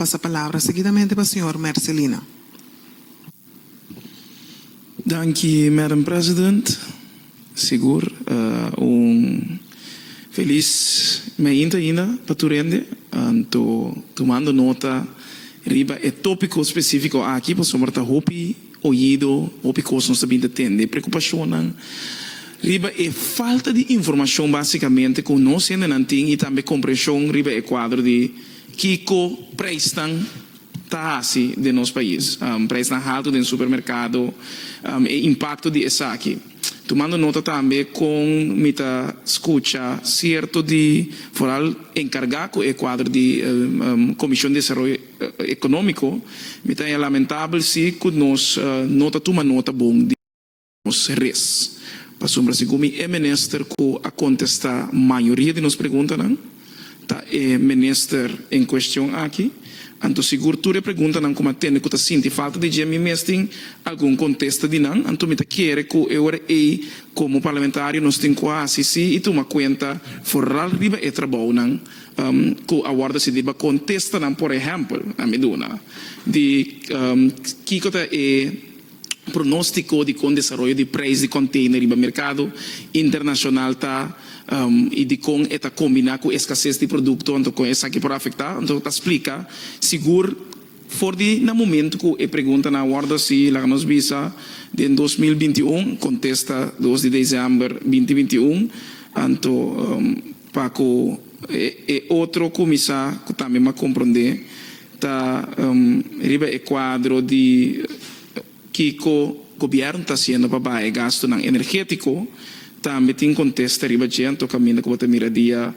Pasa palabra seguidamente pa señor Mercelina. Danki Madam President. Sigur un felis mainta ainda pa tur hende. Anto tumando nota riba e topico specifico aki pasobra ta hopi oido, hopi cos nos ta bin ta tende, e preocupacionnan riba e falta di informacion basicamente cu nos hendenan tin y tambe comprension riba e cuadro di. Kiko preisnan ta hasi den nos pais? Preisnan haltu den supermerkado, e impakto di esaki. Tumando nota tambe kon mi ta skucha sierto di foral enkargá ku e kuadro di Komishon Desaroyo Ekonómiko, mi ta haya lamentabel si ku nos no ta tuma nota bon di. Nos res. Pasobra si ku mi e minister ku a kontestá mayoria di nos preguntanan ta e minister en kuestion aki, anto sigur tur e preguntanan ku mi a tende ku ta sinti falta di dje mi mes tin algun kontesta di nan. Anto mi ta kere ku e ora ei komo parlamentario nos tin ku hasi si i tuma kuenta foral riba e trabounan ku a wòrdu hasi riba kontestanan. Por ehèmpel, a mi duna di kiko ta e. pronóstico di con desaroyo di prijs di container riba mercado internacional ta y di con e ta combina cu escasez di producto anto con esaki por afecta anto ta splica sigur for di na momento cu e preguntanan a wordo haci laga nos bisa den dos mil binti un contesta dos di diciember binti binti un anto. Pa ku e otro kuminsá ku tambe m'a komprondé ta riba e kuadro di kiko gobièrnu ta hasiendo pa baha e gastunan energétiko. Tambe tin kontesta riba dje anto kaminda ku bo ta mira dia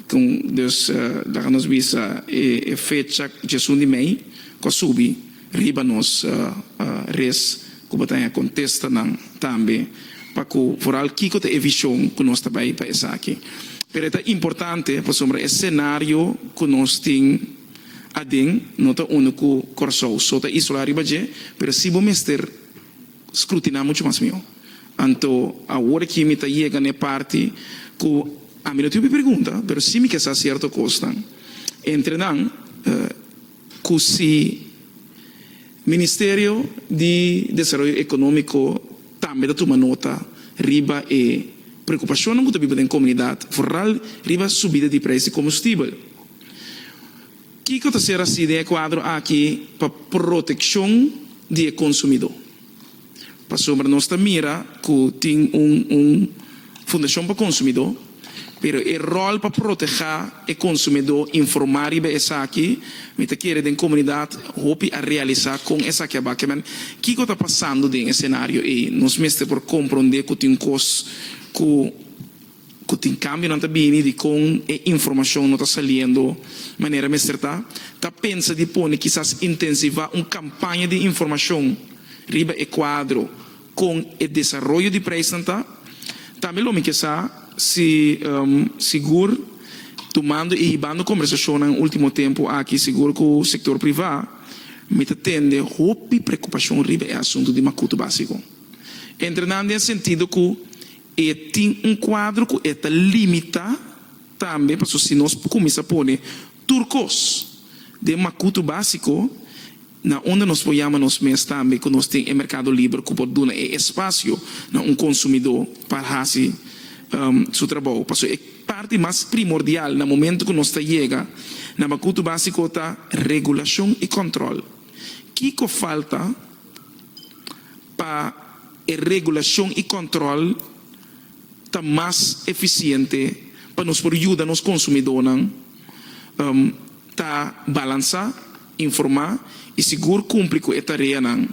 kon. Dus laga nos bisa e fecha dje esun di mei ku a subi. Riba nos res ku bo ta hen a kontesta nan tambe pa ku foral kiko ta e vishon ku nos ta bai pa esaki. Pero e ta importante pasobra e senario ku nos tin aden no ta unu ku Kòrsou so ta isolá riba dje, pero si bo mester skrutiná muchu mas mihó. Anto awor aki mi ta yega na e parti ku ami no tin hopi pregunta, pero si mi ke sa sierto kosnan. Entre nan. cu si Ministerio di Desaroyo Economico tambe ta tuma nota riba e preocupacionnan cu ta biba den comunidad, vooral riba subida di prijs di combustibel. Kico ta ser haci den e cuadro aki pa proteccion di e consumidor? Pasobra nos ta mira cu tin un un Fundacion pa Consumidor, pero e rol pa proteha e consumidor, informa riba esaki, mi ta kere den comunidad hopi a realisa con esaki a bak. Kiman, kico ta pasando den e scenario ey? Nos mester por compronde cu tin cos cu ku tin kambionan ta bini di kon e informashon no ta saliendo manera mester ta, ta pensa di pone kisas intensivá un kampaña di informashon riba e kuadro kon e desaroyo di preisnan ta. Tambe lo mi ke sa si sigur, tumando i hibando kombersashonnan último tempu aki, sigur ku sektor privá mi ta tende hopi prekupashon riba e asuntu di makutu básiko. Entre nan den sentido ku E tin un kuadro ku e ta limitá tambe, pasobra si nos por kuminsá pone tur kos den makutu básiko, na unda nos por yama nos mes tambe ku nos tin e merkado liber ku por duna e espasio na un konsumidó pa hasi su trabou? Pasobra e parti mas primordial na momentu ku nos ta yega na makutu básiko ta regulashon i kòntròl. Kiko falta pa. E regulashon i kòntròl ta mas efisiente pa nos por yuda nos konsumidónan ta balansá, informá i sigur kumpli ku e tareanan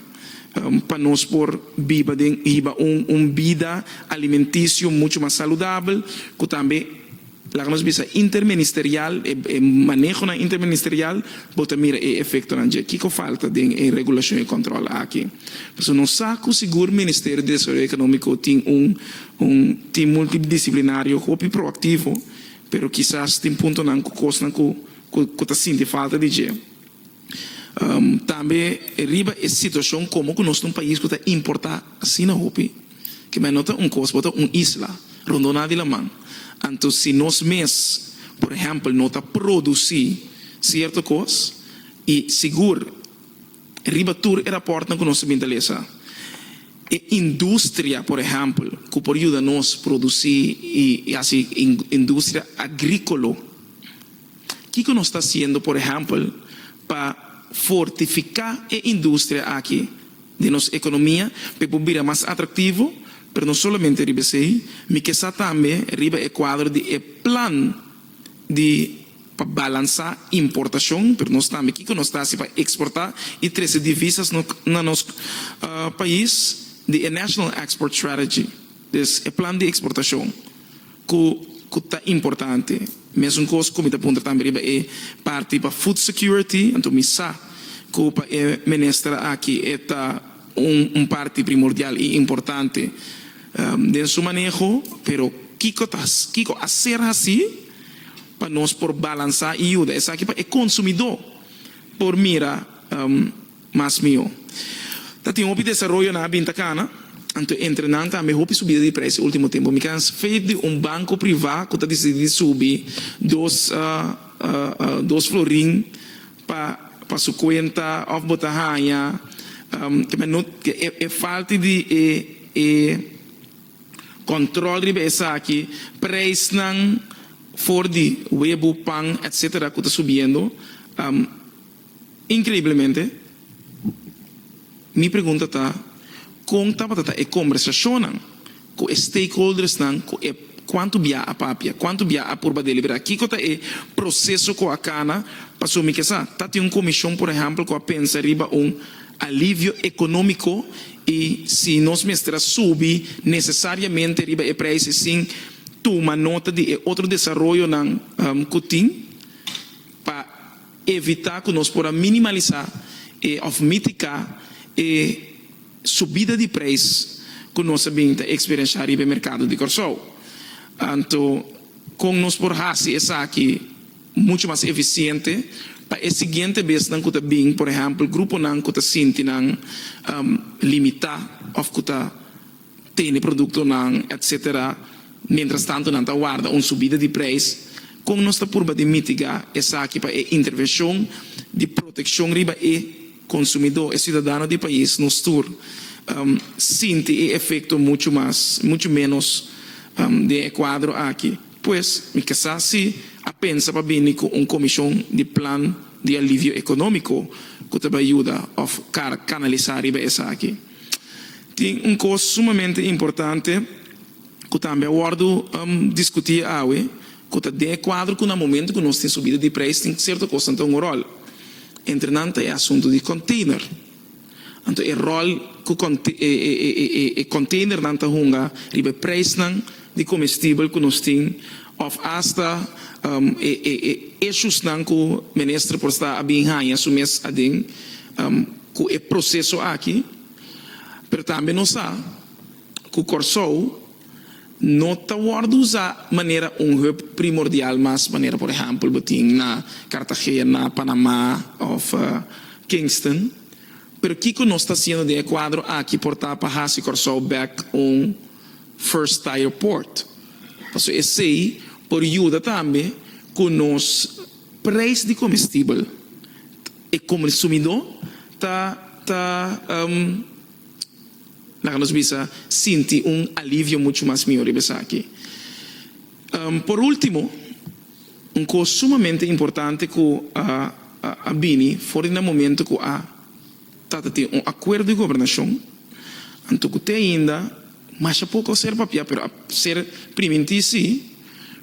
pa nos por biba den hiba un bida alimentisio muchu mas saludabel ku tambe Laga nos bisa interministerial, e manehonan interministerial bo ta mira e efectonan dje. Kico falta den e regulacion y control aki? Pasobra nos sa cu sigur Ministerio di Desaroyo Economico tin un un team multidisciplinario hopi proactivo, pero kisas tin puntonan cu cosnan cu cu ta sinti falta di dje. Tambe riba e situacion como cu nos ta un pais cu ta importa asina hopi, ke men no ta un cos bo ta un isla rondoná di laman, anto si nos mes por ehempel no ta produci cierto cos y sigur riba tur e raportnan cu nos a bin ta lesa e industria por ehempel cu por yuda nos produci y haci industria agricolo. Kiko nos ta hasiendo, por ehèmpel, pa fortifiká e industria aki den nos ekonomia pa e por bira mas atraktivo? Pero no solamente riba esei, mi ke sa tambe riba e kuadro di e plan di pa balansá importashon, pero nos tambe kiko nos ta hasi pa eksportá i trese divisas na nos pais di e National Export Strategy, des e plan di eksportashon. cu cu ta importante. Mesuncos cu mi ta puntra tambe riba e parti pa food security, anto mi sa cu pa e minister aki e ta un un parti primordial y importante den su maneho, pero kico ta kico a ser haci pa nos por balansa y yuda esaki pa e consumidor por mira. mas mihó. Ta tin hopi desaroyonan a bin ta kana, anto entre nan tambe hopi subida di preis e ultimo tempu. Mi kan spet di un banko privá ku ta disidi di subi dos dos florin pa pa su kuenta òf bo ta haña e falti di e e kòntròl riba esaki, preisnan for di webu, pan etsetera ku ta subiendo. Increiblemente, mi pregunta ta con tabata ta e combersacionnan cu e stakeholdersnan cu e cuantu bia a papia, cuantu bia a purba delibera, kico ta e proceso cu a cana pasobra mi ke sa ta tin un comision por ehempel cu a pensa riba un alivio economico y si nos mester a subi necesariamente riba e prijse sin tuma nota di e otro desaroyonan cu tin pa Evitá ku nos por a minimalisá e òf mitiká e subida di preis ku nos a bin ta eksperienshá riba e merkado di Kòrsou. Anto kon nos por hasi esaki muchu mas efisiente pa e siguiente besnan ku ta bin, por ehèmpel gruponan ku ta sinti nan limitá òf ku ta. tene produktonan etsetera, mientras tanto nan ta warda un subida di preis, kon nos ta purba di mitiga esaki pa e intervenshon di protekshon riba e konsumidó, e siudadano di pais nos tur sinti e efekto muchu mas muchu ménos den e kuadro aki. Pues mi ke sa si a pensa pa bini ku un komishon di plan di alivio ekonómiko ku ta bai yuda òf kanalisá riba esaki. Tin un kos sumamente importante ku tambe a wòrdu diskutí awe, ku ta den e kuadro ku na momentu ku nos tin subida di preis tin sierto kosnan ta hunga ròl. Entre nan ta e asuntu di kònteiner. Anto e ròl ku e kònteinernan ta hunga riba e preisnan di komestibel ku nos tin òf asta e eshusnan ku minister por sta a bin haña su mes aden ku e proseso aki. Pero tambe nos sa cu Corsou no ta worde usa manera un hub primordial mas manera por ehempel bo tin na Cartagena, Panama of Kingston. Pero kico nos ta haciendo den e cuadro aki por ta pa haci Corsou bek un first tire port? Pasobra esey por yuda tambe cu nos prijs di comestibel ta e comsumidor. Ta ta um laga nos bisa sinti un alivio muchu mas miho riba esaki. Um por ultimo un cos sumamente importante cu a a a bini for di na momento cu a ta ta tin un acuerdo di gobernacion anto cu te ainda masha poco a ser papia pero a ser priminti si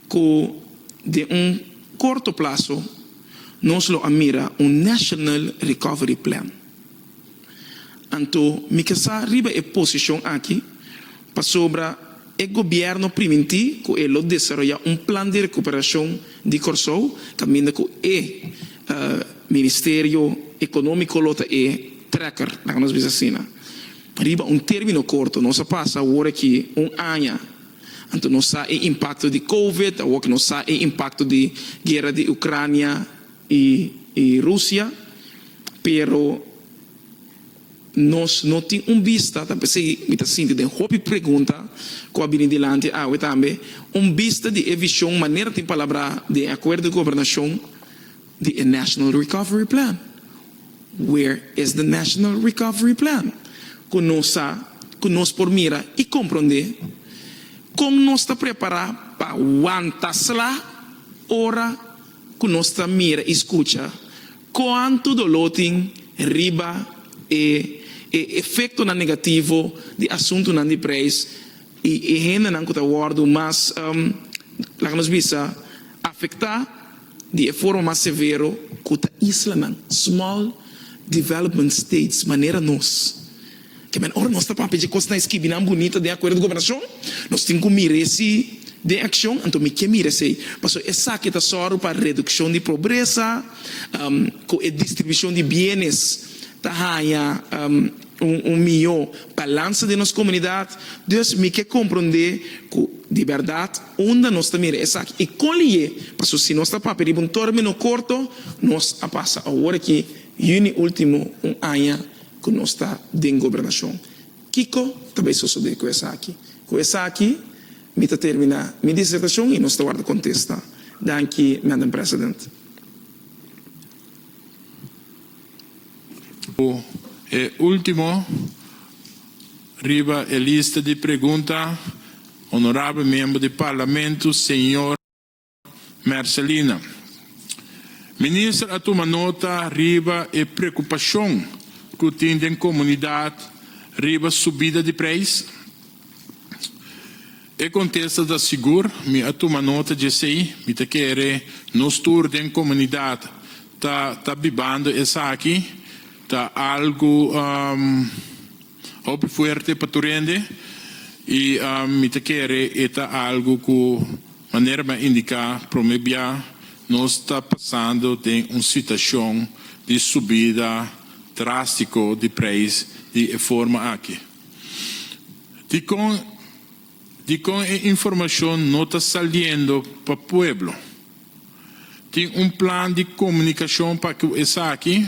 cu den un corto plazo Nos lo a mira un National Recovery Plan. Anto mi ke sa riba e posishon aki pasobra e gobièrnu primintí ku e lo desaroyá un Plan di Rekuperashon di Kòrsou kaminda ku e Ministerio Ekonómiko lo ta e trekker, laga nos bisa asina. Riba un término korto nos a pasa awor aki un aña. Anto nos sa e impakto di covid, awor nos sa e impakto di guera di Ucrania i Rusia, pero nos no tin un bista, ta p'esei mi ta sinti den hopi pregunta ku a bini dilanti awe tambe, un bista di e vision manera tin palabra den e Akuerdo di Gobernashon, Di e National Recovery Plan. Where is the National Recovery Plan? Ku nos sa ku nos por mira i komprondé kon nos ta prepará pa wanta sla ora ku nos ta mira i skucha kuantu doló tin riba e e efektonan negativo di asuntunan di preis i e hendenan ku ta wòrdu mas laga nos bisa afektá. di e forma mas severo ku ta isla nan, small development states, manera nos. Ke men ora nos ta papia dje kosnan e skibi nan bunita den akuerdo di gobernashon, nos tin ku mira esi den akshon, anto mi ke mira esei, paso esaki ta sòru pa redukshon di pobresa, ku e distribushon di bienes ta haña un mihó balansa den nos komunidat, dus mi ke komprondé ku di bèrdat Unda nos ta mira esaki i kon li'é? Paso si nos ta papia riba un término korto, nos a pasa awor aki yüni último un aña ku nos ta den gobernashon. Kiko ta bai sosodé ku esaki? Ku esaki mi ta terminá mi disertashon i nos ta warda kontesta. Danki, Madam President. Ku e último. Riba e lista di pregunta, Honorabel Member di Parlamento Señor Mercelina. Minister a tuma nota riba e preocupacion cu tin den comunidad riba subida di prijs? E contesta ta sigur, mi a tuma nota djesey, mi ta kere nos tur den comunidad ta ta bibando esaki. Ta algu hopi fuerte pa tur hende i mi ta kere e ta algu ku manera mi a indiká promé bia, nos ta pasando den un situashon di subida drástiko di preis di e forma aki. Dikon? Dikon e informashon no ta saliendo pa pueblo? Tin un plan di komunikashon pa ku esaki?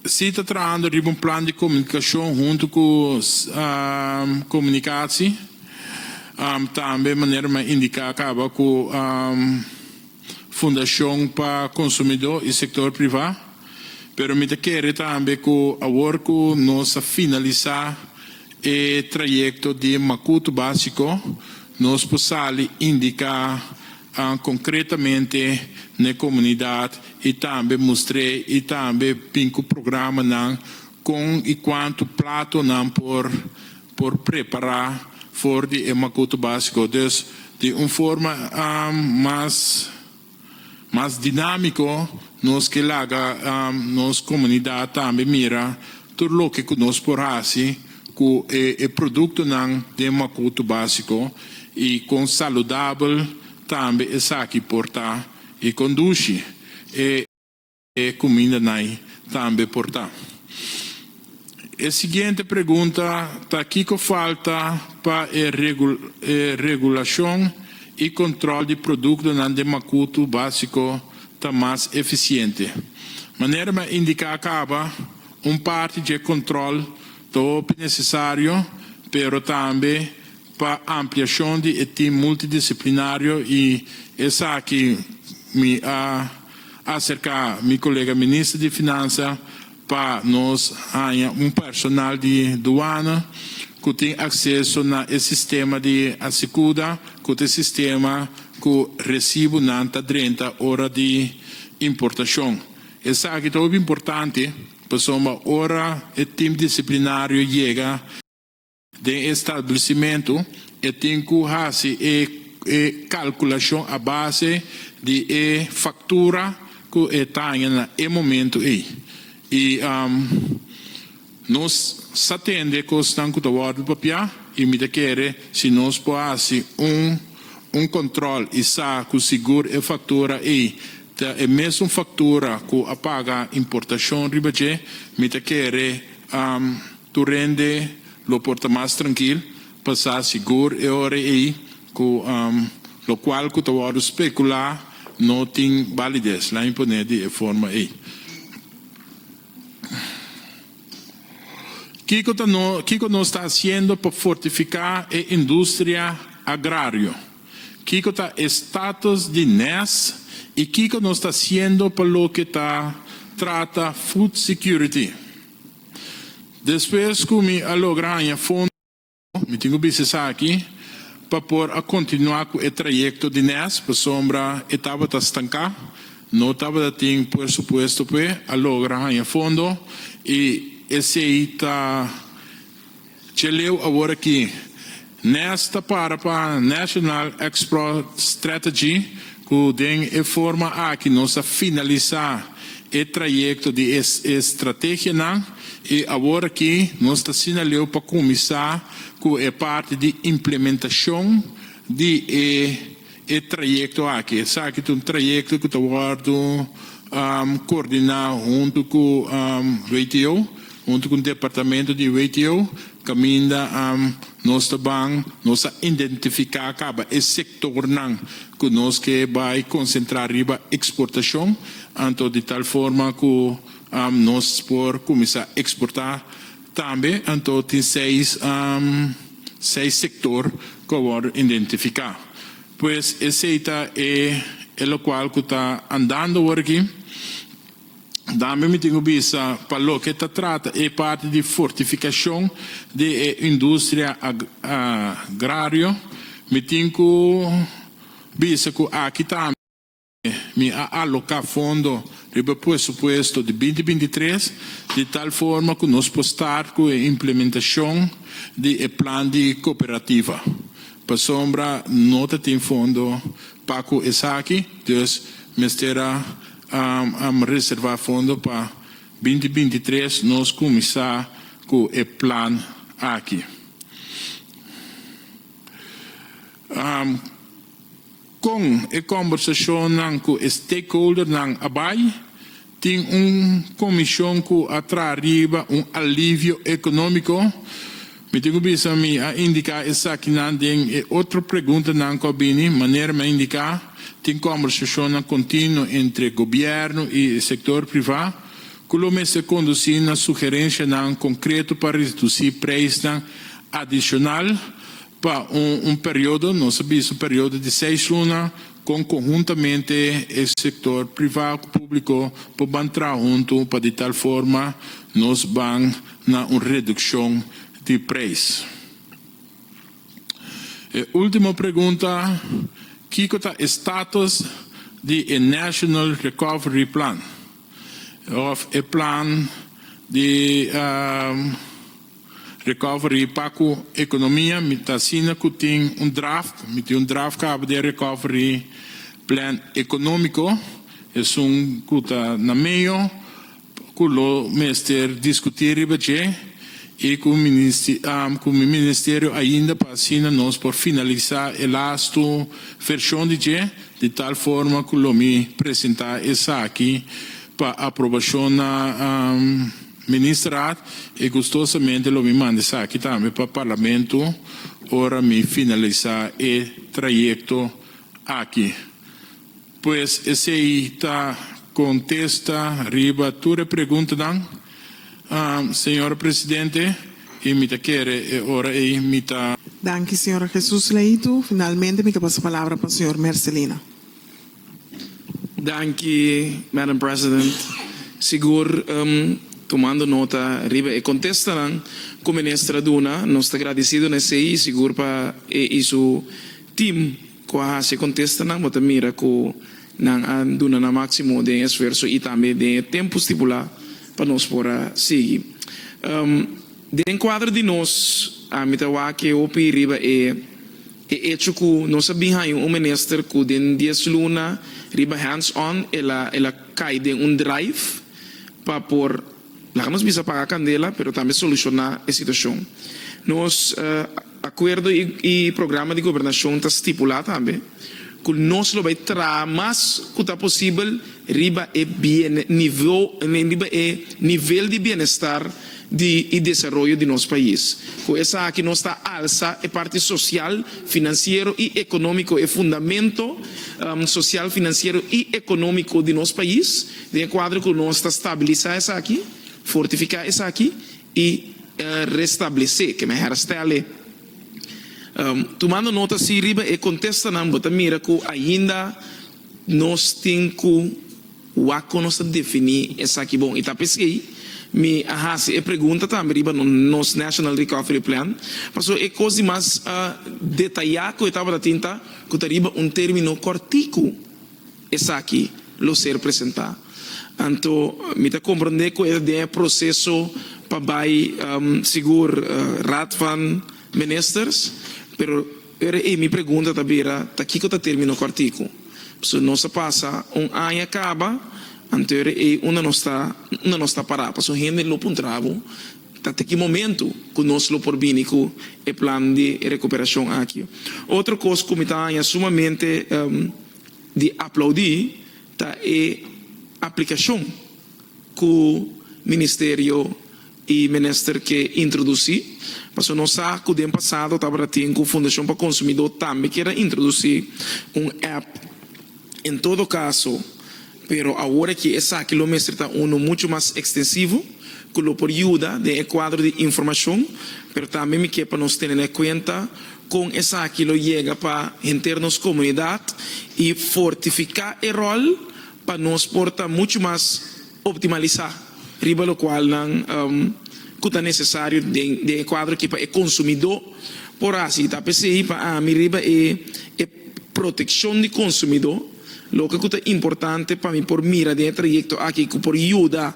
Si ta trahando riba un plan di komunikashon huntu ku komunikasi tambe manera mi a indiká kaba ku. Fundashon pa Konsumidó i Sektor Privá, pero mi ta kere tambe ku awor ku nos a finalisá e trayekto di Makutu Básiko, nos por sali indiká konkretamente na e komunidat i tambe mustr'é i tambe bin ku programanan kon i kuantu plato nan por por prepará for di e makuto básiko. Dus di un forma mas mas dinámiko nos ke laga nos komunidat tambe mira tur loke ku nos por hasi ku e produktonan den makuto básiko i kon saludabel tambe esaki por ta i kon dushi e E kuminda nai tambe por ta. E siguiente pregunta ta kiko falta pa e regulashon i kontròl di produktonan den makutu básiko ta mas efisiente? Manera mi a indiká kaba, un parti dje kontròl ta hopi nesesario, pero tambe pa ampliashon di e tim multidisiplinario i esaki mi a. acerca mi colega minister di Finansa pa nos haña un personal di Duana cu tin acceso na e sistema di Asicuda cu ta e sistema cu recibonan ta drenta ora di importacion. Esaki ta hopi importante pasobra ora e team disciplinario yega, Den e stablecimentu e tin cu haci e e calculacion a base di e factura cu e taña na e momento ey. Y nos sa tende cosnan cu ta wordo papia y mi ta kere si nos por haci un un control y sa cu sigur e factura ey ta e mesun factura cu a paga importacion riba dje, mi ta kere. Tur hende lo por ta mas trankil pa sa sigur e ora ei ku lokual ku ta wòrdu spekulá no tin balides lain pon'é di e forma ei. Kiko ta no kiko nos ta hasiendo pa fortifiká e industria agrario? Kiko ta e status di nes i kiko nos ta hasiendo pa loke ta trata food security? Despues cu mi a logra haña fondo, mi tin cu bisa esaki, pa por a continua cu e trayecto di nes, pasobra e tabata stanca, no tabata tin puersupuesto p'e a logra haña fondo y esey ta. Cheleu aworakí. Nest ta para pa National Export Strategy ku den e forma aki nos ta finalisá e trayekto di e estrategianan i aworakí nos ta sinaleu pa kuminsá ku e parti di implementashon di e E trayekto aki, esaki ta un trayekto ku ta wòrdu koordiná huntu ku WTO, huntu ku departamento di WTO, kaminda nos ta ban, nos a identifiká kaba e sektornan ku nos ke bai konsentrá riba eksportashon, anto di tal forma ku nos por kuminsá eksportá. Tambe anto tin seis seis sector cu a worde indentifica. Pues esey ta e e locual cu ta andando awor aki. Tambe mi tin cu bisa pa loke ta trata e parti di fortificacion di e industria agrario mi tin cu bisa cu aki tambe. Mi a alocá fondo riba e presupuesto di binti binti tres di tal forma cu nos por start cu e implementacion di e plan di cooperativa. Pasobra no ta tin fondo pa cu esaki, dus mester a reserva fondo pa binti binti tres nos cuminsa cu e plan aki. Con e combersacionnan cu e stakeholdernan a bay, tin un comision cu a traha riba un alivio economico. Mi tin cu bisa mi a indica esakinan den e otro preguntanan cu a bini. Manera mi a indica, tin combersacionnan continuo entre gobierno y e sector priva cu lo mester conduci na sugerencianan concreto pa reduci prijsnan adicional Pa un periodo, nos a bisa periodo di seis luna, con conhuntamente e sector priva cu publico por ban traha hunto pa di tal forma nos ban na un reduccion di prijs. E ultimo pregunta, kico ta e status di e National Recovery Plan of e plan di. Recovery pa cu economia mi ta asina cu tin un draft, mi tin un draft cabo di e recovery plan economico, esun cu ta na medio cu lo mester discuti riba dje y cu cu mi Ministerio ainda pa asina nos por finalisa e lastu version di dje di tal forma cu lo mi presenta esaki pa aprobacion na Minister Raad, e gustosamente lo mi manda esaki tambe pa Parlamento ora mi finalisa e trayecto aki. Pues esei ta contesta riba tur e preguntanan, Señora Presidente, y mi ta kere e ora ei mi ta. Danki, Señora Jesús Leitu. Finalmente mi ta pasa palabra pa Señor Mercelina. Danki, Madam President. Sigur, tumando nota riba e contestanan cu Minister a duna, nos ta gradicido na esey y sigur pa e y su team cu a haci e contestanan, bo ta mira cu nan a duna nan maximo den e esfuerzo y tambe den e tempo stipula pa nos por a sigui. Den cuadro di nos, ami ta wak e hopi riba e. E echo cu nos a bin haya un minister cu den dies luna riba hands on el a cay den un drive pa por, laga nos bisa paga candela, pero tambe soluciona e situacion. Nos acuerdo y programa di gobernacion ta stipula tambe cu nos lo bay traha mas cu ta posibel riba e nivel di bienestar di e desaroyo di nos pais. Ku esaki nos ta alsa e parti sosial, finansiero i ekonómiko, e fundamento sosial, finansiero i ekonómiko di nos pais, den e kuadro ku nos ta stabilisá esaki, fortifiká esaki i restablesé, kende herstelle. Tumando nota si riba e kontestanan bo ta mira ku ainda nos tin ku. Wak ku nos ta definí esaki bon. I ta p'esei mi a hasi e pregunta tambe riba nos National Recovery Plan, pasobra e kos di mas detayá ku e tabata tin ta ku ta riba un término kòrtiku esaki lo ser presentá. Anto mi ta komprondé ku e ta den e proseso pa bai sigur Raad van Ministers, pero. Pero e mi pregunta ta bira ta kico ta termino cu articu. P'esu nos a pasa un aña caba anteur e unda nos ta unda nos ta para. Paso hende lo puntrabo ta te ki momento cu nos lo por bini cu e plan di recuperacion aki. Otro cos cu mi ta haña sumamente di aplaudi ta e aplicacion cu Ministerio i menester ke introdusí, paso nos sa ku den pasado tabata tin ku Fundashon pa Konsumidó tambe kier a introdusí un app. En todo kaso, pero awor aki esaki lo mester ta unu muchu mas ekstensivo ku lo por yuda den e kuadro di informashon, pero tambe mi ke pa nos tene na kuenta kon esaki lo yega pa henter nos komunidat i fortifiká e ròl pa nos por ta muchu mas. optimalisá riba lokualnan ku ta nesesario den e kuadro ki pa e konsumidó por hasi. Ta p'esei pa ami riba e protekshon di konsumidó loke ku ta importante pa mi por mira den e trayekto aki ku por yuda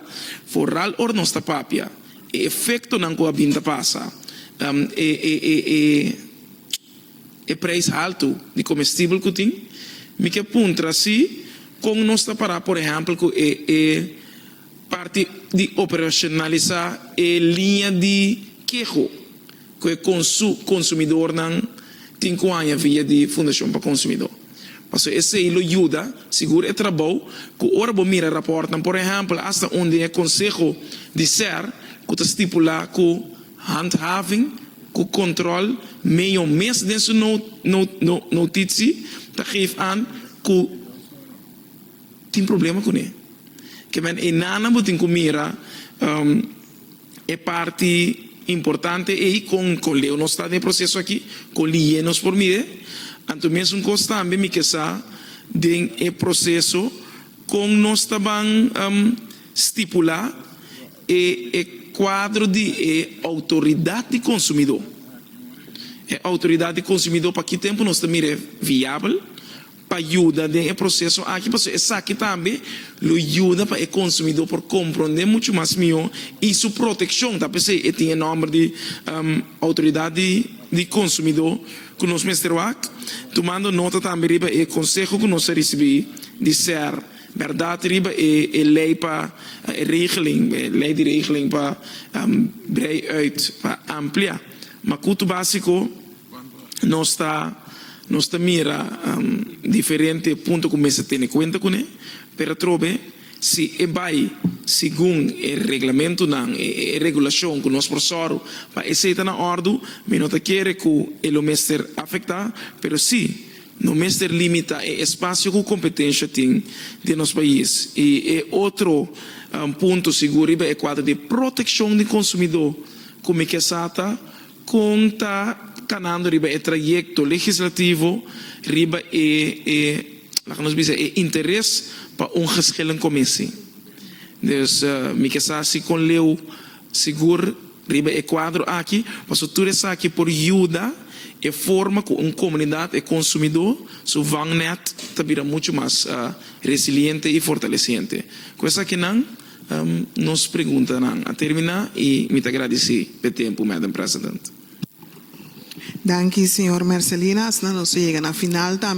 foral ora nos ta papia e efektonan ku a bin ta pasa e e prijs haltu di comestibel cu tin, mi kier puntra si con nos ta para por ehempel cu e e parti di operacionalisa e linea di keho cu e consu consumidornan tin cu haña via di Fundacion pa Consumidor. Pasobra esey lo yuda sigur e trabou cu ora bo mira raportnan por ehempel hasta undie Conseho di ser cu ta stipula cu Handhaving ku Control Mayo mes den su notitsi ta geef an ku tin problema kuné. Kiawen e nannan bo tin ku mira e parti importante ei kon kon Leo nos ta den e proseso aki, kon liye nos por mir'é. Anto mesun kos tambe mi ke sa den e proseso kon nos ta ban stipula. E e kuadro di e outoridat di konsumidó. E outoridat di konsumidó pa ki tempu nos ta mira e viabel pa yuda den e proseso aki pasobra esaki tambe lo yuda pa e konsumidó por komprondé muchu mas mihó i su protekshon ta p'esei e tin e nòmber di outoridat di di konsumidó ku nos mester wak tumando nota tambe riba e konseho ku nos a risibí di ser Bèrdat riba e e lei pa e regeling, e lei di regeling pa brei uit, pa amplia. Ma kutu básiko nos ta nos ta mira diferente punto ku mester tene kuenta kuné, pero atrobe si e bai segun e reglamentunan, e e regulashon ku nos por sòru pa esei ta na òrdu, mi no ta kere ku e lo mester afektá, pero si. No mester limitá e espasio ku kompetensha tin den nos pais. I e otro punto sigur riba e kuadro di protekshon di konsumidó ku mi ke sa ta kon ta kanando riba e trayekto legislativo riba e e laga nos bisa e interes pa un geschillen komisie. Dus mi ke sa si kon leu Sigur riba e kuadro aki paso tur esaki por yuda e forma ku un komunidat e konsumidó su vangnèt ta bira muchu mas resiliente i fortalesiente. Ku esakinan nos preguntanan a terminá i mi ta gradisí pa e tempu, Madam President. Danki, señor Mercelina. Asina nos a yega na final tambe.